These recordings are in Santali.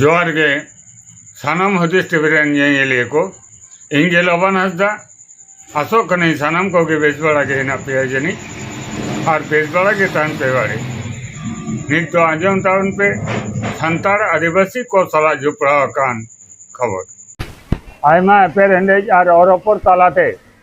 ᱡᱚᱦᱟᱨ ᱜᱮ ᱥᱟᱱᱟᱢ ᱦᱩᱫᱤᱥ ᱴᱤᱵᱷᱤ ᱨᱮᱱ ᱧᱮᱧᱮᱞᱤᱭᱟᱹ ᱠᱚ ᱤᱧ ᱜᱮ ᱞᱚᱵᱟᱱ ᱦᱟᱸᱥᱫᱟ ᱟᱥᱚᱜ ᱠᱟᱹᱱᱟᱹᱧ ᱥᱟᱱᱟᱢ ᱠᱚᱜᱮ ᱵᱮᱥ ᱵᱟᱲᱟ ᱜᱮ ᱦᱮᱱᱟᱜ ᱯᱮᱭᱟ ᱡᱟᱹᱱᱤᱡ ᱟᱨ ᱵᱮᱥ ᱵᱟᱲᱟ ᱜᱮ ᱛᱟᱦᱮᱱ ᱯᱮ ᱵᱟᱲᱮ ᱱᱤᱛ ᱫᱚ ᱟᱸᱡᱚᱢ ᱛᱟᱵᱚᱱ ᱯᱮ ᱥᱟᱱᱛᱟᱲ ᱟᱹᱫᱤᱵᱟᱹᱥᱤ ᱠᱚ ᱥᱟᱞᱟᱜ ᱡᱚᱯᱲᱟᱣ ᱟᱠᱟᱱ ᱠᱷᱚᱵᱚᱨ ᱟᱭᱢᱟ ᱮᱯᱮᱨ ᱦᱮᱸᱰᱮᱡ ᱟᱨ ᱚᱨᱚᱯᱚᱨ ᱛᱟᱞᱟᱛᱮ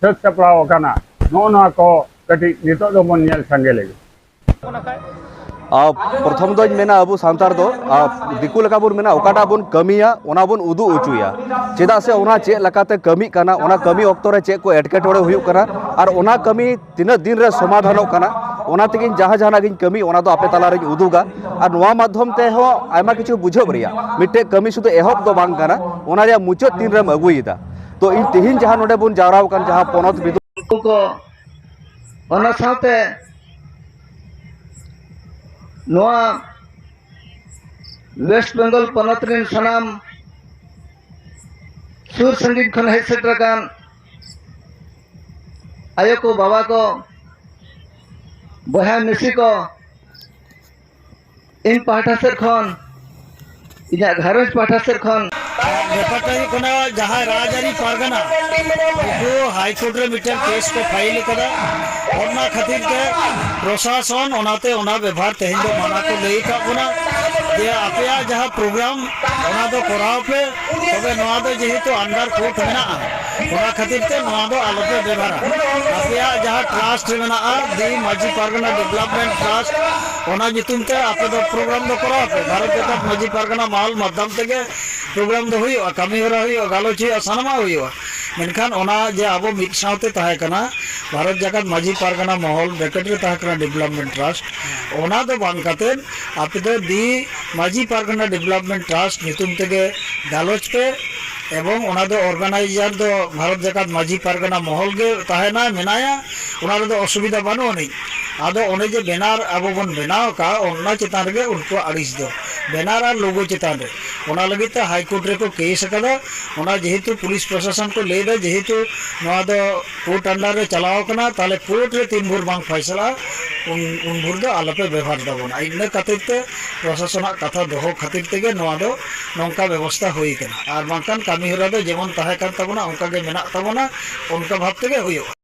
ᱥᱟᱹᱛ ᱥᱟᱯᱲᱟᱣ ᱟᱠᱟᱱᱟ ᱱᱚᱜᱼᱚ ᱱᱚᱣᱟ ᱠᱚ ᱠᱟᱹᱴᱤᱡ ᱱᱤᱛᱚᱜ ᱫᱚᱵᱚᱱ ᱧᱮᱞ ᱥᱟᱸᱜᱮ ᱞᱮᱜᱮ ᱯᱨᱚᱛᱷᱚᱢ ᱫᱚᱧ ᱢᱮᱱᱟ ᱟᱵᱚ ᱥᱟᱱᱛᱟᱲ ᱫᱚ ᱫᱤᱠᱩ ᱞᱮᱠᱟ ᱵᱚᱱ ᱢᱮᱱᱟ ᱚᱠᱟᱴᱟᱜ ᱵᱚᱱ ᱠᱟᱹᱢᱤᱭᱟ ᱚᱱᱟ ᱵᱚᱱ ᱩᱫᱩᱜ ᱦᱚᱪᱚᱭᱟ ᱪᱮᱫᱟᱜ ᱥᱮ ᱚᱱᱟ ᱪᱮᱫ ᱞᱮᱠᱟᱛᱮ ᱠᱟᱹᱢᱤᱜ ᱠᱟᱱᱟ ᱚᱱᱟ ᱠᱟᱹᱢᱤ ᱚᱠᱛᱚ ᱨᱮ ᱪᱮᱫ ᱠᱚ ᱮᱴᱠᱮᱴᱚᱬᱮ ᱦᱩᱭᱩᱜ ᱠᱟᱱᱟ ᱟᱨ ᱚᱱᱟ ᱠᱟᱹᱢᱤ ᱛᱤᱱᱟᱹᱜ ᱫᱤᱱ ᱨᱮ ᱥᱚᱢᱟᱫᱷᱟᱱᱚᱜ ᱠᱟᱱᱟ ᱚᱱᱟ ᱛᱮᱜᱮᱧ ᱡᱟᱦᱟᱸ ᱡᱟᱦᱟᱱᱟᱜ ᱜᱤᱧ ᱠᱟᱹᱢᱤ ᱚᱱᱟ ᱫᱚ ᱟᱯᱮ ᱛᱟᱞᱟ ᱨᱤᱧ ᱩᱫᱩᱜᱟ ᱟᱨ ᱱᱚᱣᱟ ᱢᱟᱫᱽᱫᱷᱚᱢ ᱛᱮᱦᱚᱸ ᱟᱭᱢᱟ ᱠᱤᱪᱷᱩ ᱵᱩᱡᱷᱟᱹᱣ ᱨᱮᱭᱟᱜ ᱢᱤᱫᱴᱮᱡ ᱠᱟᱹᱢᱤ ᱥᱩᱫᱷᱩ ᱮᱦᱚᱵ ᱫᱚ ᱵᱟᱝ ᱠᱟᱱᱟ ᱚᱱᱟ ᱨᱮᱭᱟᱜ ᱢᱩᱪᱟᱹᱫ ᱛᱤᱱ ᱨᱮᱢ ᱟᱹᱜᱩᱭᱮᱫᱟ ᱛᱚ ᱤᱧ ᱛᱮᱦᱮᱧ ᱡᱟᱦᱟᱸ ᱱᱚᱰᱮ ᱵᱚᱱ ᱡᱟᱣᱨᱟ ᱟᱠᱟᱱ ᱡᱟᱦᱟᱸ ᱯᱚᱱᱚᱛ ᱵᱤᱫᱩ ᱠᱚ ᱚᱱᱟ ᱥᱟᱶᱛᱮ ᱱᱚᱣᱟ ᱣᱮᱥᱴ ᱵᱮᱝᱜᱚᱞ ᱯᱚᱱᱚᱛ ᱨᱮᱱ ᱥᱟᱱᱟᱢ ᱥᱩᱨ ᱥᱟᱺᱜᱤᱧ ᱠᱷᱚᱱ ᱦᱮᱡ ᱥᱮᱴᱮᱨ ᱟᱠᱟᱱ ᱟᱭᱳ ᱠᱚ ᱵᱟᱵᱟ ᱠᱚ ᱵᱚᱭᱦᱟ ᱢᱤᱥᱤ ᱠᱚ ᱤᱧ ᱯᱟᱦᱴᱟ ᱥᱮᱫ ᱠᱷᱚᱱ ᱤᱧᱟᱹᱜ ᱜᱷᱟᱨᱚᱸᱡᱽ ᱯᱟᱦᱴᱟ ᱥᱮᱫ ᱠᱷᱚᱱ ᱵᱮᱯᱟᱨ ᱫᱚ ᱦᱩᱭᱩᱜ ᱠᱟᱱᱟ ᱡᱟᱦᱟᱸ ᱨᱟᱡᱽᱟᱹᱨᱤ ᱯᱟᱨᱜᱟᱱᱟ ᱩᱱᱠᱩ ᱦᱟᱭᱠᱳᱨᱴ ᱨᱮ ᱢᱤᱫᱴᱟᱝ ᱠᱮᱥ ᱠᱚ ᱯᱷᱟᱭᱤᱞ ᱟᱠᱟᱫᱟ ᱚᱱᱟ ᱠᱷᱟᱹᱛᱤᱨ ᱛᱮ ᱯᱨᱚᱥᱟᱥᱚᱱ ᱚᱱᱟᱛᱮ ᱚᱱᱟ ᱵᱮᱵᱷᱟᱨ ᱛᱮᱦᱮᱧ ᱫᱚ ᱢᱟᱱᱟ ᱠᱚ ᱞᱟᱹᱭ ᱟᱠᱟᱫ ᱵᱚᱱᱟ ᱡᱮ ᱟᱯᱮᱭᱟᱜ ᱡᱟᱦᱟᱸ ᱯᱨᱳᱜᱨᱟᱢ ᱚᱱᱟ ᱫᱚ ᱠᱚᱨᱟᱣ ᱯᱮ ᱛᱚᱵᱮ ᱱᱚᱣᱟ ᱫᱚ ᱡᱮᱦᱮᱛᱩ ᱟᱱᱰᱟᱨ ᱠᱳᱨᱴ ᱢᱮᱱᱟᱜᱼᱟ ᱚᱱᱟ ᱠᱷᱟᱹᱛᱤᱨ ᱛᱮ ᱱᱚᱣᱟ ᱫᱚ ᱟᱞᱚ ᱯᱮ ᱵᱮᱵᱷᱟᱨᱟ ᱟᱯᱮᱭᱟᱜ ᱡᱟᱦᱟᱸ ᱴᱨᱟᱥᱴ ᱢᱮᱱᱟᱜᱼᱟ the Majhi Pargana development trust ᱚᱱᱟ ᱧᱩᱛᱩᱢ ᱛᱮ ᱟᱯᱮ ᱫᱚ ᱯᱨᱳᱜᱨᱟᱢ ᱫᱚ ᱠᱚᱨᱟᱣ ᱯᱮ ᱵᱷᱟᱨᱚᱛ ᱡᱟᱠᱟᱛ ᱢᱟᱺᱡᱷᱤ ᱯᱟᱨᱜᱟᱱᱟ ᱢᱟᱦᱟᱞ ᱢᱟᱫᱽᱫᱷᱚᱢ ᱛᱮᱜᱮ ᱯᱨᱳᱜᱨᱟᱢ ᱫᱚ ᱦᱩᱭᱩᱜᱼᱟ ᱠᱟᱹᱢᱤ ᱦᱚᱨᱟ ᱦᱩᱭᱩᱜᱼᱟ ᱜᱟᱞᱚᱪ ᱦᱩᱭᱩᱜᱼᱟ ᱥᱟᱱᱟᱢᱟᱜ ᱦᱩᱭᱩᱜᱼᱟ ᱢᱮᱱᱠᱷᱟᱱ ᱚᱱᱟ ᱡᱮ ᱟᱵᱚ ᱢᱤᱫ ᱥᱟᱶᱛᱮ ᱛᱟᱦᱮᱸ ᱠᱟᱱᱟ ᱵᱷᱟᱨᱚᱛ ᱡᱟᱠᱟᱛ ᱢᱟᱺᱡᱷᱤ ᱯᱟᱨᱜᱟᱱᱟ ᱢᱚᱦᱚᱞ ᱵᱨᱮᱠᱮᱴ ᱨᱮ ᱛᱟᱦᱮᱸ ᱠᱟᱱᱟ ᱰᱮᱵᱷᱞᱚᱯᱢᱮᱱᱴ ᱴᱨᱟᱥᱴ ᱚᱱᱟ ᱫᱚ ᱵᱟᱝ ᱠᱟᱛᱮ ᱟᱯᱮ ᱫᱚ the Majhi Pargana development trust ᱧᱩᱛᱩᱢ ᱛᱮᱜᱮ ᱜᱟᱞᱚᱪ ᱯᱮ ᱮᱵᱚᱝ ᱚᱱᱟ ᱫᱚ ᱚᱨᱜᱟᱱᱟᱭᱤᱡᱟᱨ ᱫᱚ ᱵᱷᱟᱨᱚᱛ ᱡᱟᱠᱟᱛ ᱢᱟᱺᱡᱷᱤ ᱯᱟᱨᱜᱟᱱᱟ ᱢᱚᱦᱚᱞ ᱜᱮ ᱛᱟᱦᱮᱱᱟᱭ ᱢᱮᱱᱟᱭᱟ ᱚᱱᱟ ᱨᱮᱫᱚ ᱚᱥᱩᱵᱤᱫᱷᱟ ᱵᱟᱹᱱᱩᱜ ᱟᱹᱱᱤᱡ ᱟᱫᱚ ᱚᱱᱮ ᱡᱮ ᱵᱮᱱᱟᱨ ᱟᱵᱚ ᱵᱚᱱ ᱵᱮᱱᱟᱣ ᱟᱠᱟᱫ ᱚᱱᱟ ᱪᱮᱛᱟᱱ ᱨᱮᱜᱮ ᱩᱱᱠᱩᱣᱟᱜ ᱟᱹᱲᱤᱥ ᱫᱚ ᱵᱮᱱᱟᱨ ᱟᱨ ᱞᱳᱜᱳ ᱪᱮᱛᱟᱱ ᱨᱮ ᱚᱱᱟ ᱞᱟᱹᱜᱤᱫ ᱛᱮ ᱦᱟᱭ ᱠᱳᱨᱴ ᱨᱮᱠᱚ ᱠᱮᱥ ᱟᱠᱟᱫᱟ ᱚᱱᱟ ᱡᱮᱦᱮᱛᱩ ᱯᱩᱞᱤᱥ ᱯᱨᱚᱥᱟᱥᱚᱱ ᱠᱚ ᱞᱟᱹᱭ ᱮᱫᱟ ᱡᱮᱦᱮᱛᱩ ᱱᱚᱣᱟ ᱫᱚ ᱠᱳᱨᱴ ᱟᱱᱰᱟᱨ ᱨᱮ ᱪᱟᱞᱟᱣ ᱟᱠᱟᱱᱟ ᱛᱟᱦᱚᱞᱮ ᱠᱳᱨᱴ ᱨᱮ ᱛᱤᱱ ᱵᱷᱳᱨ ᱵᱟᱝ ᱯᱷᱚᱭᱥᱟᱞᱟᱜᱼᱟ ᱩᱱ ᱩᱱ ᱵᱷᱳᱨ ᱫᱚ ᱟᱞᱚ ᱯᱮ ᱵᱮᱵᱷᱟᱨ ᱛᱟᱵᱚᱱᱟ ᱤᱱᱟᱹ ᱠᱷᱟᱹᱛᱤᱨ ᱛᱮ ᱯᱨᱚᱥᱟᱥᱚᱱᱟᱜ ᱠᱟᱛᱷᱟ ᱫᱚᱦᱚ ᱠᱷᱟᱹᱛᱤᱨ ᱛᱮᱜᱮ ᱱᱚᱣᱟ ᱫᱚ ᱱᱚᱝᱠᱟ ᱵᱮᱵᱚᱥᱛᱟ ᱦᱩᱭ ᱟᱠᱟᱱᱟ ᱟᱨ ᱵᱟᱝᱠᱷᱟᱱ ᱠᱟᱹᱢᱤ ᱦᱚᱨᱟ ᱫᱚ ᱡᱮᱢᱚᱱ ᱛᱟᱦᱮᱸ ᱠᱟᱱ ᱛᱟᱵᱚᱱᱟ ᱚᱱᱠᱟ ᱜᱮ ᱢᱮᱱᱟᱜ ᱛᱟᱵᱚᱱᱟ ᱚᱱᱠᱟ ᱵᱷᱟᱵᱽ ᱛᱮᱜᱮ ᱦᱩᱭᱩᱜᱼᱟ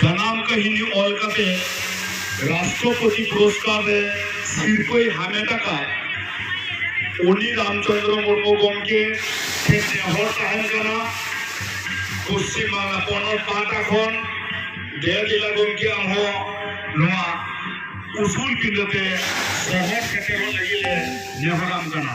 ᱡᱟᱱᱟᱢ ᱠᱟᱹᱦᱤᱱᱤ ᱚᱞ ᱠᱟᱛᱮ ᱨᱟᱥᱴᱨᱚᱯᱚᱛᱤ ᱯᱩᱨᱚᱥᱠᱟᱨ ᱨᱮ ᱥᱤᱨᱯᱟᱹᱭ ᱦᱟᱢᱮᱴ ᱟᱠᱟᱫ ᱩᱱᱤ ᱨᱟᱢᱪᱚᱱᱫᱨᱚ ᱢᱩᱨᱢᱩ ᱜᱚᱢᱠᱮ ᱴᱷᱮᱱ ᱱᱮᱦᱚᱨ ᱛᱟᱦᱮᱱ ᱠᱟᱱᱟ ᱯᱚᱥᱪᱤᱢ ᱵᱟᱝᱞᱟ ᱯᱚᱱᱚᱛ ᱯᱟᱦᱴᱟ ᱠᱷᱚᱱ ᱫᱮᱣᱞᱤᱞᱟ ᱜᱚᱢᱠᱮ ᱟᱢ ᱦᱚᱸ ᱱᱚᱣᱟ ᱩᱥᱩᱞ ᱯᱤᱸᱰᱟᱹ ᱛᱮ ᱥᱚᱦᱚᱨ ᱥᱮᱴᱮᱨᱚᱜ ᱞᱟᱹᱜᱤᱫ ᱞᱮ ᱱᱮᱦᱚᱨᱟᱢ ᱠᱟᱱᱟ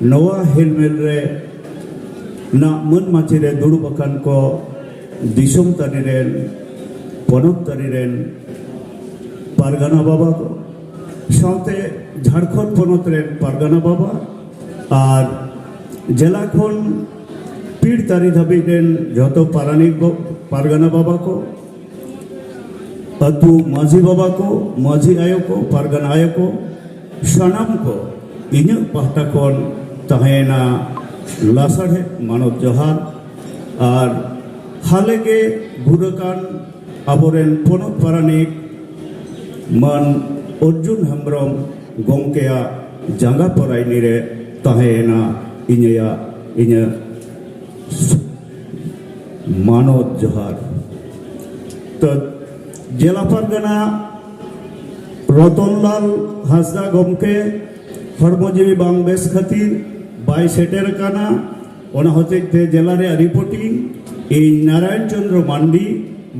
ᱱᱚᱣᱟ ᱦᱮᱞᱢᱮᱞ ᱨᱮ ᱱᱟ ᱢᱟᱹᱱ ᱢᱟᱪᱮ ᱨᱮ ᱫᱩᱲᱩᱵ ᱟᱠᱟᱱ ᱠᱚ ᱫᱤᱥᱚᱢ ᱛᱟᱹᱨᱤ ᱨᱮᱱ ᱯᱚᱱᱚᱛ ᱛᱟᱹᱨᱤ ᱨᱮᱱ ᱯᱟᱨᱜᱟᱱᱟ ᱵᱟᱵᱟ ᱠᱚ ᱥᱟᱶᱛᱮ ᱡᱷᱟᱲᱠᱷᱚᱸᱰ ᱯᱚᱱᱚᱛ ᱨᱮᱱ ᱯᱟᱨᱜᱟᱱᱟ ᱵᱟᱵᱟ ᱟᱨ ᱡᱮᱞᱟ ᱠᱷᱚᱱ ᱯᱤᱲ ᱛᱟᱹᱨᱤ ᱫᱷᱟᱹᱵᱤᱡ ᱨᱮᱱ ᱡᱚᱛᱚ ᱯᱟᱨᱟᱱᱤᱠ ᱯᱟᱨᱜᱟᱱᱟ ᱵᱟᱵᱟ ᱠᱚ ᱟᱹᱛᱩ ᱢᱟᱹᱡᱷᱤ ᱵᱟᱵᱟ ᱠᱚ ᱢᱟᱹᱡᱷᱤ ᱟᱭᱳ ᱠᱚ ᱯᱟᱨᱜᱟᱱᱟ ᱟᱭᱳ ᱠᱚ ᱥᱟᱱᱟᱢ ᱠᱚ ᱤᱧᱟᱹᱜ ᱯᱟᱦᱴᱟ ᱠᱷᱚᱱ ᱛᱟᱦᱮᱸᱱᱟ ᱞᱟᱥᱟᱲᱦᱮᱫ ᱢᱟᱱᱚᱛ ᱡᱚᱦᱟᱨ ᱟᱨ ᱦᱟᱞᱮ ᱜᱮ ᱜᱩᱨ ᱟᱠᱟᱱ ᱟᱵᱚᱨᱮᱱ ᱯᱚᱱᱚᱛ ᱯᱟᱨᱟᱱᱤᱠ ᱢᱟᱱ ᱚᱨᱡᱩᱱ ᱦᱮᱢᱵᱨᱚᱢ ᱜᱚᱢᱠᱮᱭᱟᱜ ᱡᱟᱸᱜᱟ ᱯᱚᱨᱟᱭᱱᱤ ᱨᱮ ᱛᱟᱦᱮᱸᱭᱮᱱᱟ ᱤᱧᱟᱹᱜ ᱤᱧᱟᱹᱜ ᱢᱟᱱᱚᱛ ᱡᱚᱦᱟᱨ ᱛᱚ ᱡᱮᱞᱟ ᱯᱟᱨᱜᱟᱱᱟ ᱨᱚᱛᱚᱱᱞᱟᱞ ᱦᱟᱸᱥᱫᱟ ᱜᱚᱢᱠᱮ ᱦᱚᱲᱢᱚ ᱡᱤᱣᱤ ᱵᱟᱝ ᱵᱮᱥ ᱠᱷᱟᱹᱛᱤᱨ ᱵᱟᱭ ᱥᱮᱴᱮᱨ ᱟᱠᱟᱱᱟ ᱚᱱᱟ ᱦᱚᱛᱮᱡ ᱛᱮ ᱡᱮᱞᱟ ᱨᱮᱭᱟᱜ ᱨᱤᱯᱳᱨᱴᱤᱝ ᱤᱧ ᱱᱟᱨᱟᱭᱚᱱ ᱪᱚᱱᱫᱨᱚ ᱢᱟᱱᱰᱤ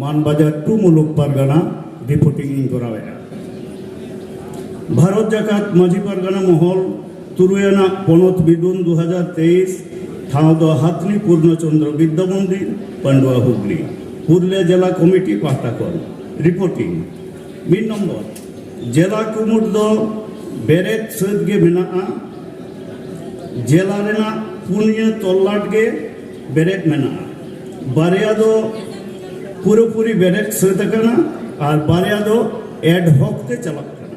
ᱢᱟᱱᱵᱟᱡᱟᱨ ᱴᱩ ᱢᱩᱞᱩᱠ ᱯᱟᱨᱜᱟᱱᱟ ᱨᱤᱯᱳᱨᱴᱤᱝ ᱤᱧ ᱠᱚᱨᱟᱣᱮᱫᱼᱟ ᱵᱷᱟᱨᱚᱛ ᱡᱟᱠᱟᱛ ᱢᱟᱹᱡᱷᱤ ᱯᱟᱨᱜᱟᱱᱟ ᱢᱚᱦᱚᱞ ᱛᱩᱨᱩᱭ ᱟᱱᱟᱜ ᱯᱚᱱᱚᱛ ᱵᱤᱫᱩᱱ ᱫᱩ ᱦᱟᱡᱟᱨ ᱛᱮᱭᱤᱥ ᱴᱷᱟᱶ ᱫᱚ ᱦᱟᱛᱱᱤ ᱯᱩᱨᱱᱚ ᱪᱚᱱᱫᱨᱚ ᱵᱤᱫᱽᱫᱟ ᱢᱚᱱᱫᱤᱨ ᱯᱟᱱᱰᱩᱣᱟ ᱦᱩᱜᱽᱞᱤ ᱯᱩᱨᱩᱞᱤᱭᱟᱹ ᱡᱮᱞᱟ ᱠᱚᱢᱤᱴᱤ ᱯᱟᱦᱴᱟ ᱠᱷᱚᱱ ᱨᱤᱯᱳᱨᱴᱤᱝ ᱢᱤᱫ ᱱᱚᱢᱵᱚᱨ ᱡᱮᱞᱟ ᱠᱩᱢᱩᱴ ᱫᱚ ᱵᱮᱨᱮᱫ ᱥᱟᱹᱛ ᱜᱮ ᱢᱮᱱᱟᱜᱼᱟ ᱡᱮᱞᱟ ᱨᱮᱱᱟᱜ ᱯᱩᱱᱭᱟᱹ ᱛᱚᱞᱞᱟᱴ ᱜᱮ ᱵᱮᱨᱮᱫ ᱢᱮᱱᱟᱜᱼᱟ ᱵᱟᱨᱭᱟ ᱫᱚ ᱯᱩᱨᱟᱹᱯᱩᱨᱤ ᱵᱮᱨᱮᱫ ᱥᱟᱹᱛ ᱟᱠᱟᱱᱟ ᱟᱨ ᱵᱟᱨᱭᱟ ᱫᱚ ᱮᱰᱦᱚᱠ ᱛᱮ ᱪᱟᱞᱟᱜ ᱠᱟᱱᱟ